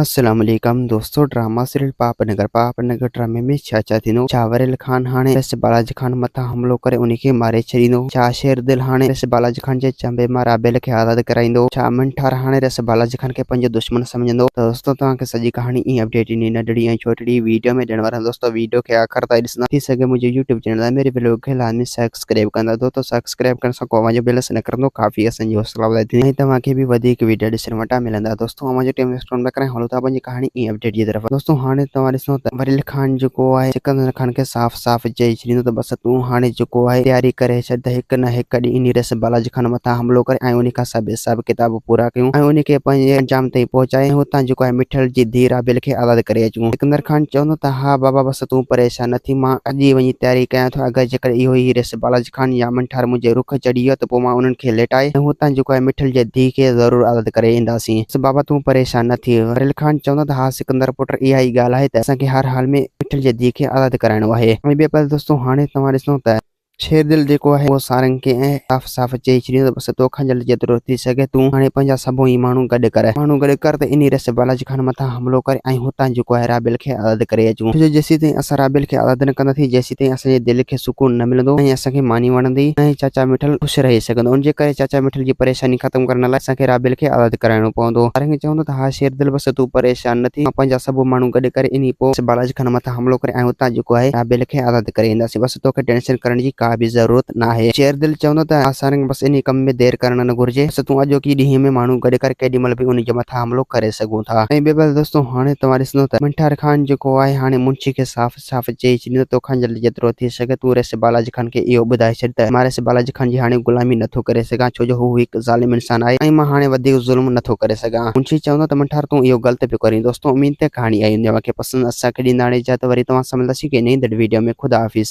السلام عليڪم دوستو ڊراما سيريل پاپ نگر پاپ نگر ڊرامي ۾ ڇا ڇا ٿيندو ڇا وريل خان هاڻي سس بالاجي خان مٿان حملو ڪري انهي کي ماري ڇڏيندو ڇا شير دل هاڻي سس بالاجي خان جي چنبي مان رابيل کي آزاد ڪرائيندو ڇا امن ٺار هاڻي سس بالاجي خان کي پنهنجو دشمن سمجهندو ته دوستو توهان کي سڄي ڪهاڻي ائين اپڊيٽ انهي ننڍڙي ۽ ڇوٽڙي ويڊيو ۾ ڏيڻ وارا آهيون دوستو ويڊيو کي آخر تائين ڏسندا ٿي سگهي منهنجي يوٽيوب چينل اميري بلاگ کي لازمي سيڪ سبسڪرائب ڪندا ٿو ته سبسڪرائب ڪرڻ سان ڪو اوهان جو بيلنس نه ڪرندو ڪافي اسان جي حوصلا افزائي ٿيندي ۽ توهان کي به وڌيڪ ويڊيا ڏسڻ وٽان ملندا دوستو اوهان جو ٽيم ويسٽ ڪونه ٿا ڪرايون هلون ٿا پنهنجي ڪهاڻي ۽ اپڊيٽ جي طرف دوستو هاڻي توهان ڏسندو ته وريل خان جيڪو آهي سڪندر خان کي صاف صاف چئي ڇڏيندو ته بس تون هاڻي جيڪو آهي تياري ڪري ڇڏ ته هڪ نه هڪ ڏينهن انهي رئيس بالاجي خان مٿان حملو ڪري ۽ انهي کان سڀ حساب ڪتاب پورا ڪيون ۽ انهي کي پنهنجي انجام تائين پهچائي ۽ هتان جيڪو آهي مٺل جي ڌيء رابيل کي آزاد ڪري اچون سڪندر خان چوندو ته ها بابا بس تون پريشان نه ٿي، مان اڄ ئي وڃي تياري ڪيان ٿو، اگر جيڪڏهن اهو ئي ريس بالاجي خان يا امن ٺار منهنجي رخ چڙهي ويو ته پوء مان انهن کي ليٽائي ۽ هتان جيڪو آهي مٺل جي ڌيء کي ضرور آزاد ڪري اينداسين. بس بابا تون پريشان نه ٿي. وريل خان چوندو ته ها سڪندر پٽ اها ئي ڳالهه آهي ته اسان کي هر حال ۾ مٺل جي ڌيء کي آزاد ڪرائڻو آهي. ۽ ٻئي پاسي دوستو هاڻي توهان ڏسندو ته. شير دل جيڪو آهي اهو سارنگ کي ائين صاف صاف چئي ڇڏيو ته بس توکان جلد جيترو ٿي سگهي تون هاڻي پنهنجا سڀو ئي ماڻهو گڏ ڪر ماڻهو گڏ ڪر ته انهي رستي بالاجي خان مٿان حملو ڪري ۽ هتان جيڪو آهي رابيل کي آزاد ڪري اچون ڇو جو جيسيتائين اسان رابيل کي آزاد نه ڪنداسين جيسيتائين اسان جي دل کي سڪون نه ملندو نه ئي اسان کي ماني وڻندي نه ئي چاچا مٺل خوش رهي سگهندو ان جي ڪري چاچا مٺل جي پريشاني ختم ڪرڻ لاء اسان کي رابيل کي آزاد ڪرائڻو پوندو سارنگ چوندو ته ها شير دل بس تون پريشان نه ٿي مان پنهنجا سڀو ماڻهو گڏ ڪري انهي پوء بالاجي خان مٿان حملو ڪري ۽ اتان جيڪو آهي رابيل کي آزاد ڪري اينداسين بس توکي ٽينشن ڪرڻ جي ڪا به ضرورت ناهي شير دل چوندو ته آسانگ بس انهي ڪم ۾ دير ڪرڻ نه گهرجي بس تون اڄوڪي ڏينهن ۾ ماڻهو گڏ ڪر ڪيڏي مهل به انهي جي مٿان حملو ڪري سگهون ٿا ۽ ٻي ڳالهه دوستو هاڻي توهان ڏسندو ته منٺار خان جيڪو آهي هاڻي منشي کي صاف صاف چئي ڇڏيندو توکان جلدي جيترو ٿي سگهي تون رئيس بالاجي خان کي اهو ٻڌائي ڇڏ ته مان رئيس بالاجي خان جي هاڻي غلامي نه ٿو ڪري سگهان ڇو جو هو هڪ ظالم انسان آهي ۽ مان هاڻي وڌيڪ ظلم نه ٿو ڪري سگهان منشي چوندو ته منٺار تون اهو غلط پيو ڪرين دوستو اميد ڪهاڻي اهي هوندي اوهان کي پسند اسان کي ڏيندا هاڻي اجازت وري توهان سان ملنداسين هڪ نئين دڙ ويڊيو ۾ خدا حافظ.